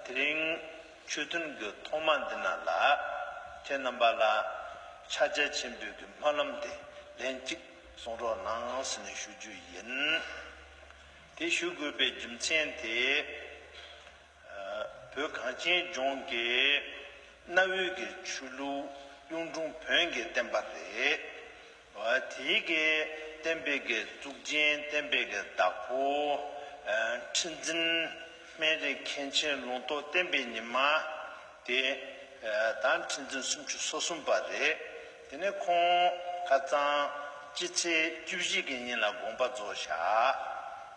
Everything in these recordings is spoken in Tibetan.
དེ་རིང་ཆོས་ཐུན་གྱི་ཐོག་མ་འདི་ན་ལ་ཁྱེད་རྣམ་པ་ལ་ཕྱག་རྒྱ་ཆེན་པོའི་གྱི་སྨོན་ལམ་དེ་ལན་གཅིག་གསུང་རོགས་གནང་ཟེར་ནས་ཞུ་རྒྱུ་ཡིན། དེ་ཞུ་དགོས་པའི་རྒྱུ་མཚན་དེ། བོད་གངས་ཅན་ལྗོངས་ཀྱི་གནའ་བོའི་གི་ཆོས་ལུགས་གཡུང་དྲུང་བོན་གྱི་བསྟན་པ་རེད། དེའི་གི་བསྟན་པའི་གི་གཙུག་རྒྱན་བསྟན་པའི་གི་བདག་པོ། ཁྲི་འཛིན་སྨན་རིའི་མཁན་ཆེན་ལུང་རྟོགས་བསྟན་པའི་ཉི་མ། དེ་དང་ཁྲི་འཛིན་སུམ་ཅུ་སོ་གསུམ་པ་རེད། དེ་ནས་ཁོང་ཁ་རྩང། སྤྱི་ཚེས་བཅུ་བཞི་གི་ཉིན་ལ་དགོངས་པ་རྫོགས་བཞག་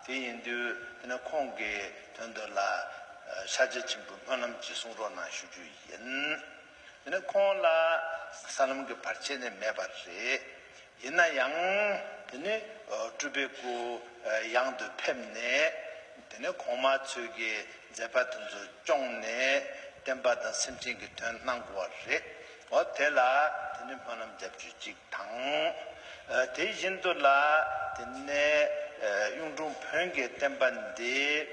དེ་ཡིན་དུས་དེ་ནས་ཁོང་གི་དོན་དུ་ལ་ཤ་རྗེ་ཆེན་པོའི་སྨོན་ལམ་གྱི་གསུང་རོགས་གནང་ཞུ་རྒྱུ་ཡིན། དེ་ནས་ཁོང་ལ་ས་ལམ་གྱི་བར་ཆད་ནི་མེད་པ་རེད། ཡིན་ན་ཡང། དེ་ནས་སྤྲུལ་པའི་སྐུ་གཡང་དུ་ཕེབས་ནས་དེ་ནས་གོང་མ་ཚོས་ཀྱི་མཛད་པ་དེ་ཚོ་སྐྱོང་ནས་བསྟན་པ་དང་སེམས་ཅན་གྱི་དོན་གནང་དགོས་བ་རེད། བ་དེ་ལ་དེ་ནས་སྨོན་ལམ་བརྒྱ་བཅུ་གཅིག་དང། དེ་བཞིན་དུ་ལ་དེ་ནས་གཡུང་དྲུང་བོན་གྱི་བསྟན་པ་འདི་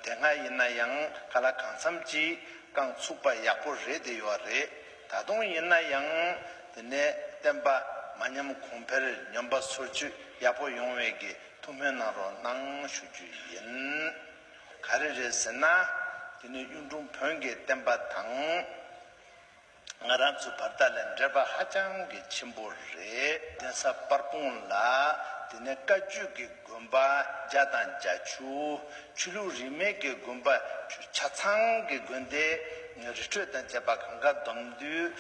དེ་སྔ་ཡིན་ན་ཡང་ག་ལ་གང་འཚམ་གཅིག་རྐང་ཚུགས་པ་ཡག་པོ་རེད་དེ་ཡོད་རེད་ད་དུང་ཡིན་ན་ཡང་དེ་ནས་བསྟན་པ་མ་ཉམས་གོང་འཕེལ་སྙོམས་པ་སོར་ཆུད་ཡག་པོ་ཡོང་བའི་གི་ཐུགས་སྨོན་གནང་རོགས་གནང་ཞུ་རྒྱུ་ཡིན། ག་རེ་རེད་ཟེར་ན་དེ་ནས་གཡུང་དྲུང་བོན་གྱི་བསྟན་པ་དང། ང་རང་ཚོའི་བར་ཐག་ལས་འབྲེལ་པ་ཧ་ཅང་གི་ཆེན་པོ་རེད། གདན་ས་པར་སྤུངས་ལ་དེ་ནས་བཀའ་བརྒྱུད་ཀྱི་དགོན་པ་བརྒྱ་དང་བརྒྱ་བཅུ། ཆོས་ལུགས་རིས་མེད་ཀྱི་དགོན་པ་བཅུ་ཆ་ཚང་གི་དགོན་སྡེ་རི་ཁྲོད་དང་བཅས་པ་གང་གཱ་སྡོམ་འདུས་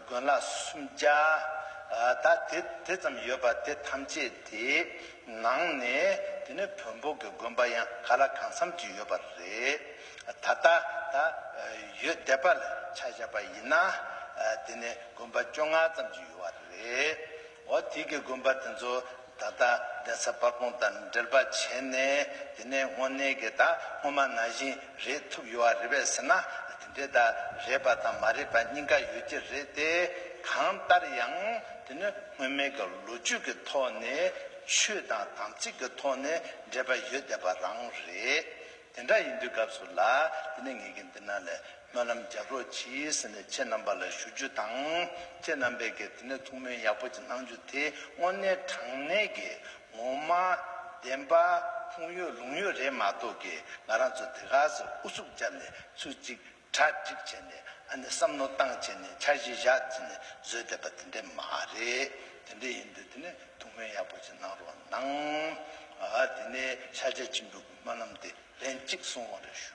དགོན་ལག་སུམ་བརྒྱ་དག་དེ་དེ་ཙམ་ཡོད་པ་དེ་ཐམས་ཅད་དེ་ནང་ནས་དེ་ནས་བོན་པོ་ཀྱི་དགོན་པ་ཡང་ག་ལ་གང་འཚམ་ཅིག་ཡོད་པ་རེད། ད་ལྟ་ད་ཡོད་དད་པ་ལ་ཆ་བཞག་པ་ཡིན་ན། དེ་ནི་དགོན་པ་བཅོ་ལྔ་ཙམ་གྱི་ཡོད་བ་རེད། འོ་དེ་གི་དགོན་པ་དེ་ཚོ་ད་ལྟ་གདན་ས་སྤར་གོང་དང་འབྲེལ་པ་བྱས་ནས་དེ་ནས་དངོས་གནས་ཀྱི་ད་སྔོན་མ་ན་བཞིན་རེད་ཐུབ་ཡོད་བ་རེད་བས་ཟེར་ན་དེ་འདྲའི་ད་རེད་པ་དང་མ་རེད་པ་གཉིས་ཀ་ཡོད་ཀྱི་རེད་དེ། གང་ལྟར་ཡང་དེ་ནི་སྔོན་མའི་གི་ལོ་རྒྱུས་ཀྱི་ཐོག་ནས་ཆོས་དང་དམ་ཚིག་གི་ཐོག་ནས་འབྲེལ་པ་ཡོད་དད་པ་རང་རེད། དེ་འདྲ་ཡིན་དུས་སྐབས་སུ་ལ་དེ་ནས་ངེད་ཀྱིས་འདི་ན་ལས་སྨོན་ལམ་རྒྱག་རོགས་གྱིས་ཟེར་ནས་ཁྱེད་རྣམ་པ་ལ་ཞུ་རྒྱུ་དང། ཁྱེད་རྣམ་པས་ཀྱི་དེ་ནས་ཐུགས་སྨོན་ཡག་པོ་ཅིག་གནང་རྒྱུ་དེ་དངོས་གནས་དྲང་གནས་ཀྱི་ངོ་མ། བདེན་པ། ཁུངས་ཡོད་ལུང་ཡོད་རེད་མ་གཏོགས་ཀྱི་ང་རང་ཚོ་དེ་ག་ཟེར་ཨུ་ཚུགས་བརྒྱབ་ནས་ཚུལ་གཅིག་གྲ་སྒྲིག་བྱས་ནས་ཨ་ནི་བསམ་མནོ་བཏང་བྱས་ནས་འཆར་གཞི་བཞག་བརྩིས་ནས་བཟོས་བསྡད་པ་དེ་འདྲས་མ་རེད་དེ་འདྲས་ཡིན་དུས་དེ་ནས་ཐུགས་སྨོན་ཡག་པོ་ཅིག་གནང་རོགས་གནང། དེ་ནས་ཤར་རྒྱ་ཆེན་པོའི་དགོན་པ་རྣམས་དེ་ལན་གཅིག་སོང་བར་ཞུ།